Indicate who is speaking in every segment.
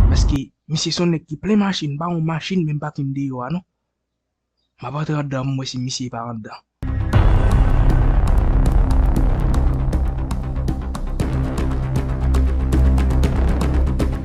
Speaker 1: Paske misye son nèg ki plen machin pa yon machin menm pa konn deyò a non. Map antre andan m wè si misye pa andan.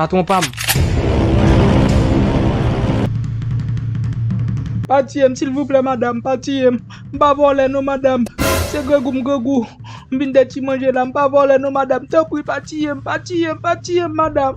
Speaker 1: Patron pam. Pa tiyem silvouplè madam pa tiyem m pa vòlè non madam se grangou m grangou m vin de ti manje la m pa vòlè non madam tanpri pa tiyem pa tiyem pa tiyem madam.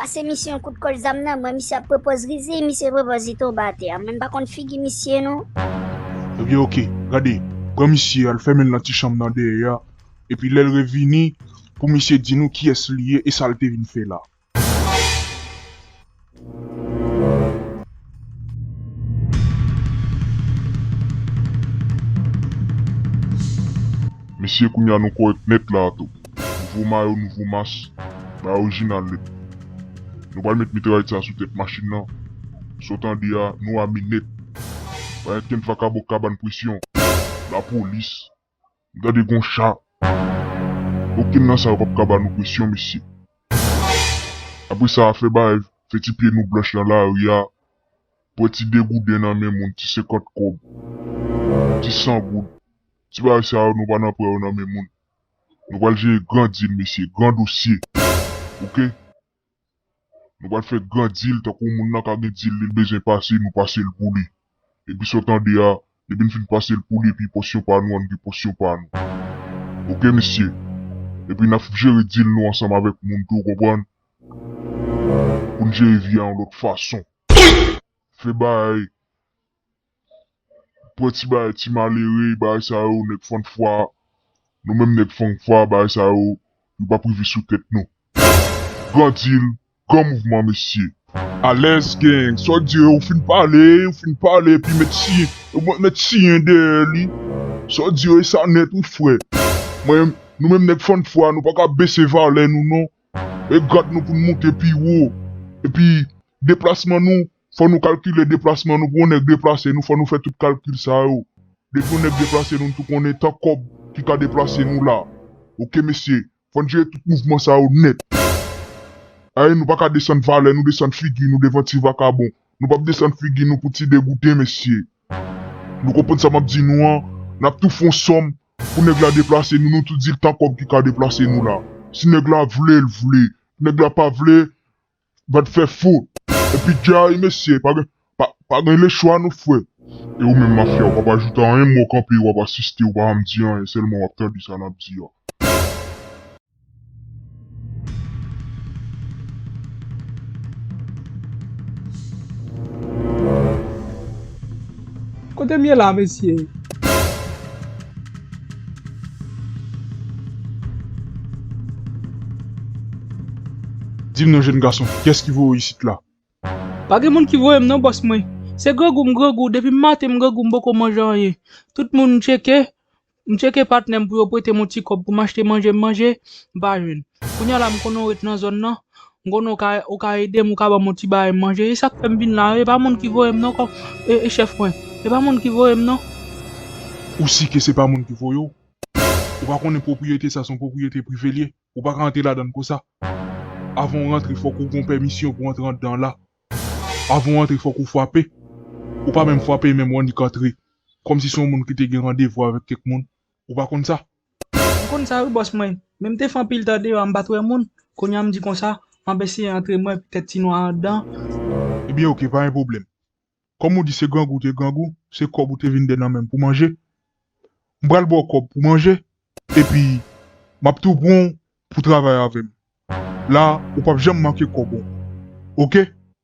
Speaker 2: Pase misye yon kout kòl zam nan mwen misye ap pwopòz rizi misye pwopòz li tonbe atè a mwen m pa konn figi misye non. Ebyen ok
Speaker 3: gade pran misye al fèmen l nan ti chanm nan dèyè a epi lè l revini pou misye di nou kiyès li ye e sa l te vin fè la.
Speaker 4: Mesye kounya nou korèk nèt la a tou. Nouvo mayo nouvo mas, bay orijinal nèt. Nou pral met mitrayèt sa sou tèt machin nan, sa w tande a nou ame nèt. Pa gen kenn vakabon kabann presyon, lapolis, Gade gon cha. Okenn nan sa yo pap ka ba nou presyon mesye. Apre sa fè bagay fè ti pye nou blanch nan lari a. Pran ti degouden nan men moun ti senkant kòb. Ti san goud. Ti bagay sa yo nou pa nan pran yo nan men moun. Nou pral jere gran dil mesye gran dosye ok. Nou pral fè gran dil tankou moun nan ka gen dil li bezwen pase nou pase l pou li. Epi sa w tande a, depi n fin pase l pou li epi pòsyon pa nou an nou gen pòsyon pa nou. Ok mesye. Epi n ap jere dil nou ansanm avèk moun tou ou konprann. Pou n jere vi a yon lòt fason. Fè bagay Pran ti bagay ti malere bagay sa yo nèg fann fwa nou menm nèg fann fwa bagay sa yo nou pap rive sou tèt nou gran dil gran mouvman mesye. Alèz
Speaker 3: Gang sa w di yo ou fin pale ou fin pale epi met siye ou pap met siye dèyè li sa w di yo e sa nèt wi frè mwen nou menm nèg fann fwa nou paka bese valè nou non e grad nou pou n moute pi wo epi Deplasman nou, fò nou kalkile deplasman nou pou yon nèg deplase nou fò nou fè tout kalkil sa yo. Depi yon nèg deplase nou n tou konnen tan kòb ki ka deplase nou la. Ok mesye, fò n jere tout mouvman sa yo nèt. Ayy nou pa ka desann valè nou desann figi nou devan ti vakabon. Nou p ap desann figi nou pou ti degouden mesye. Nou konprann sa m ap di nou an, n ap tou fè yon sòm pou nèg la deplase nou nou tou di l tan kòb ki ka deplase nou la. Si nèg la vle l vle, nèg la pa vle Vat fè fo epi jay mesye pa gen lechwa non frè. E ou menm mafya
Speaker 4: ou pap ajoute anyen men wap kanpe wap asiste ou pa janm di anyen sèlman wap tande sa nap di a.
Speaker 1: Kotem ye la mesye.
Speaker 3: Dim non jèn gason kiyès ki voye w isit la? Pa gen
Speaker 1: moun ki voye m non bòs mwen se grangou m grangou depi m maten m grangou m poko manje anyen tout moun m tcheke m tcheke patnè m pou yo prete m yon ti kòb pou m achte manje m manje m pa jwenn kounya la m konnen w ret nan zòn nan M konnen ou ka ou ka edem ou ka banm yon ti bagay manje e sak fèm vin la e pa moun ki voyem non kòm e chèf mwen e pa moun ki voyem non. Ou
Speaker 3: si ke se pa moun ki voye w? Ou pa konnen pwopriyete sa son pwopriyete prive l ye? Ou pa ka antre ladann konsa. Avan w rantre fòk ou gon pèmisyon pou antre andan la. Avan w antre fòk ou fwape. Ou pa menm fwape menm w annik antre. Kòmsi se yon moun ki te gen randevou avèk kèk moun. Ou pa konn sa? M konn sa wi
Speaker 1: bòs mwen, men m te fè anpil tan deyò a m pa t wè moun, kounye a m di konsa, m ap eseye antre m wè petèt ti nwa anndan. Ebyen ok
Speaker 3: pa gen pwoblèm, kòm ou di se grangou ou te grangou, se kòb ou te vin dennen men m pou manje, m pral ba w kòb pou manje epi m ap tou pran w pou travay avè m, la ou p ap janm manke kòb ou ok.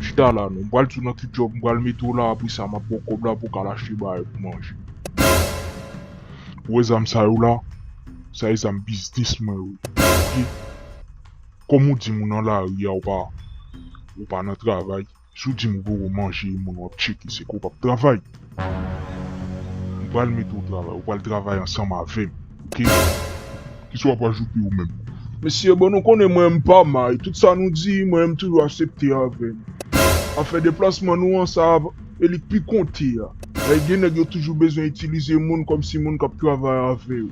Speaker 3: Chita la non, m pral di w nan ki djòb m pral mete w la apre sa m ap ba w kòb la pou w ka al achte bagay pou manje. Ou wè zam sa yo la, sa e zam biznis mwen yo. Kòm ou di m ou nan lari a ou pa nan travay. Si w di m gou ou manje e moun w ap tcheke se ke w p ap travay. M pral mete w travay, ou pral travay ansanm avè m, ok? Ki sa w ap ajoute ou menm? Mesye, bon nou konnen mwen m pa may, tout sa nou di, mwen menm m toujou asepte avè m. Afè deplasman nou an, sa ap e li k pi konte a. Lè gen nèg yo toujou bezwen itilize moun kòm si moun k ap travay avè yo.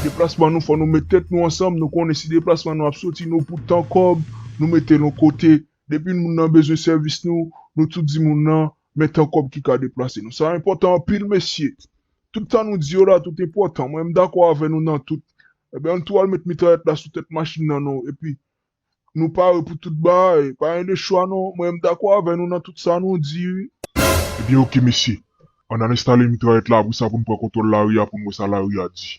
Speaker 3: Deplasman nou fò nou met tèt nou ansanm, nou konnen si deplasman nou ap soti nou pou tan kòb, nou mete l on kote, Depi moun nan bezwen sèvis nou, nou tou di moun nan, men tan kòb ki ka deplase nou. Sa enpòtan anpil mesye. Tout sa nou di yo la tout enpòtan. Mwen m dakò avè nou nan tout. Enben ann tou al met mitrayèt la sou tèt machin nan nou epi nou pare pou tout bagay. Pa gen de chwa non. Mwen m dakò avè nou nan tout sa nou di wi. Ebyen ok mesye. Ann al enstale mitrayèt la apre sa pou n pran kontwòl lari a pou n wè sa lari a di.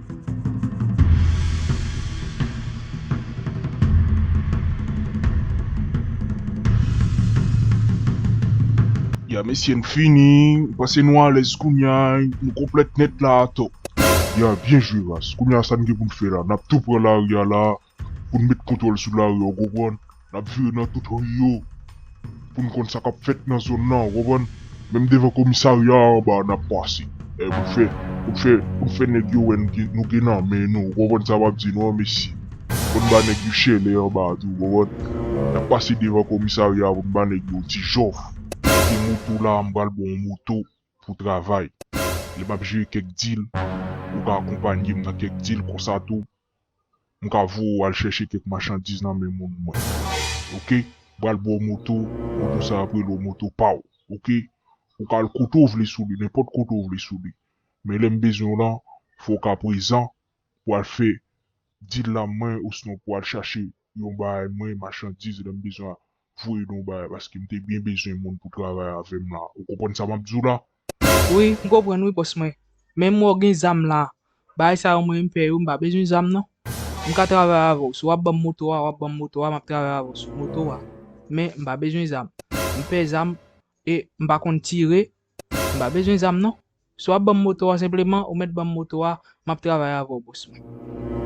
Speaker 3: Ya mesye n fini m panse nou alèz kounya nou konplèt nèt la atò. Ya byen jwe ras. Kounya sa n gen pou n fè la nap tou pran lari a la pou n met kontwòl sou lari an, ou konprann? N ap vire nan tout ri yo pou n konn sa k ap fèt nan zòn nan, ou konprann? Menm devan komisarya a anba n ap pase pou n fè, pou n fè, pou n fè nèg yo wè nou gen nan men nou, ou konprann sa m ap di nou an mesye? Pou n ba nèg yo chèlè anba a tou, ou konprann? N ap pase devan komisarya a pou n ba nèg yo ti jòf. Kote moto la a, m pral ba w yon moto pou w travay. Lè m ap jere kèk dil, ou ka akonpanye m nan kèk dil konsa tou, M ka voye w al chèche kèk machandiz nan men moun mwen ok m pral ba w moto moto sa ap rele w moto pa w ok ou ka al kote w vle sou li nenpòt kote w vle sou li men lè m bezwen w lan fò w ka prezan pou al fè dil la mwen osnon pou al chache yon bagay mwen machandiz lè m bezwen voye nou bay paske m te byen bezwen moun pou travay avèm la ou konprann sa map diw la. Wi m konprann
Speaker 1: wi bòs mwen men mwen gen zam la bagay sa yo mwen menm fè yo m pa bezwen zam non m ka travay avèw si wap banm moto a wap banm moto a map travay avèw sou moto a men m pa bezwen zam m pè zam e m pa konn tire M pa bezwen zam non. Si w ap ban m moto a senpleman ou mèt ban m moto a, m ap travay avè w bòs mwen.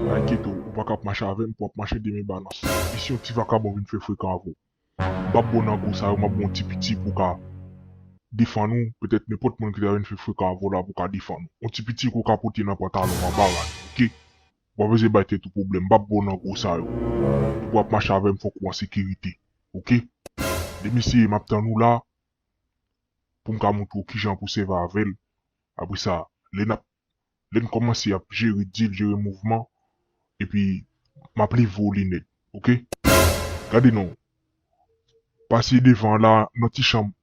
Speaker 1: Pa enkyete w, ou pa ka ap
Speaker 3: mache avè m pou w ap mache de men balans. E si yon ti vakabon vin fè frekan avè w? M pa p ba w nan gwo sa yo, m ap ba w yon ti piti pou w ka defann ou, petèt nenpòt moun ki ta vin fè frekan avè w la pou w ka defann ou. Yon ti piti ke w ka pote nan pantalon w anba rad ou, oke? Ou pa bezwen bay tèt ou pwoblèm, m pa p ba w nan gwo sa yo. E pou w ap mache avè m fòk ou an sekirite, oke? Lè m eseye, m ap tann ou la, pou m ka montre w kijan pou sèvi avè l. Apre sa, lè n ap, lè n kòmanse ap jere dil, jere mouvman, epi m ap livre w linèt. Ok. Gade non. Pase devan an la, nan ti chanm,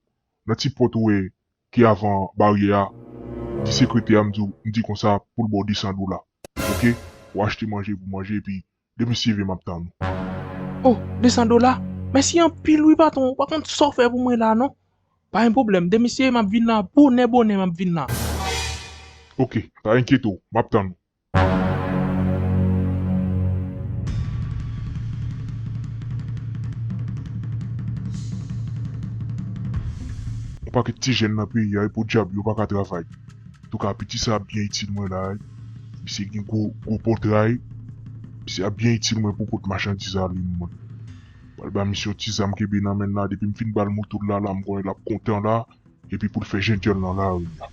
Speaker 3: nan ti pòt ou wè ki avan baryè a, di sekretè a m di w, m di konsa pou l ba w 200 dola. Ok. W achte manje pou w manje epi Depi CV map tann ou. Oh
Speaker 1: 200 dola? Mèsi anpil wi patron ou pa konn sa w fè pou mwen la non. Pa gen pwoblèm demen CV map vin la bonè bonè map vin la.
Speaker 3: Ok pa enkyete w map tann ou. On paket ti jèn nan peyi a wi podyab yo paka travay. Antouka piti sa ap byen itil mwen la wi. Misye gen gwo gwo pòtray. Misye ap byen itil mwen pou pot machandiz alin mwen. Pral ba misye yon ti zam kenbe nan menl la depim fin bal motol la la m konnen lap kontan la epi poul fè jenjèl nan lari a.